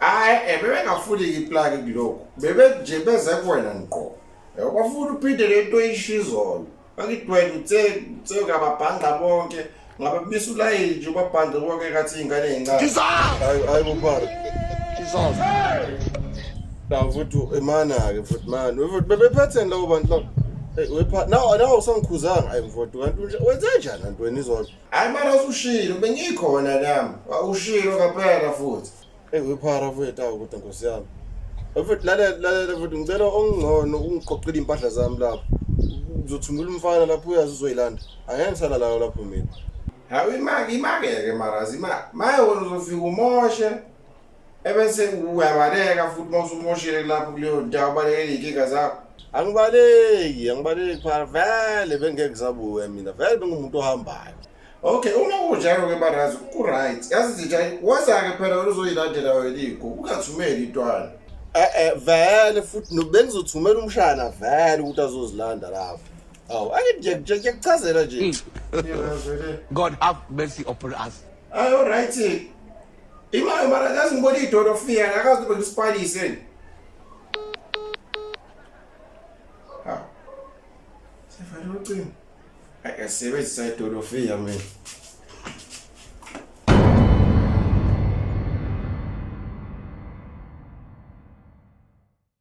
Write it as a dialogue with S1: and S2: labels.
S1: hayi eh, bebengafuni
S2: iplaki kulokhu bebe nje beze kuwena ngqo eh, bafuna uphinde le nto eyishizolo bakidwele uthe uthe ngababhanqa bonke ngabe bise ulayini nje ubabhanqe bonke kathi iy'ngane ey'ncane hayi
S1: hayi bobara
S2: la futhi imana-ke futhi mani futhi bebephatheni labo bantu labo nawo nawo usangikhuzanga ayi mfowethu kanti wenzenjani anti wena izolo hayi mara usushilo bengikhona nami ushilo kaphela futhi eyi wephara mfowethu awu kodwa nkosi yami mfowethu lalela lalela mfowethu ngicela okungcono ungiqoqile iy'mpahla zami lapho uzothumela umfana lapho uyazi uzoyilanda angeke ngisalalayo lapho mina hawu imake imake-ke marazi imake maye wena uzofika umoshe ebese uyabaleka futhi uma usumoshile kulapho kuleyo ndawo ubalekele iy'nkinga zakho angibaleki angibaleki phara vele bengeke ngisabuke mina vele bengumuntu ohambayo okay uma kunjalo ke barazi ku-right yazi zitha waza-ke phela wena uzoyilandela wena iy'gugu ungathumeli intwana e-e vele futhi no- bengizothumela umshana vele ukuthi azozilanda lapho awu ake nje nje ngiyakuchazela nje Yebazwe le.
S3: God have mercy upon us. ayi oryt
S2: Imayo mara kazi ngibona idolo fika akazi ukuthi ngisipalise ni. Ha. Sefana ucingo. Ake sebenzisa idolo fika mina.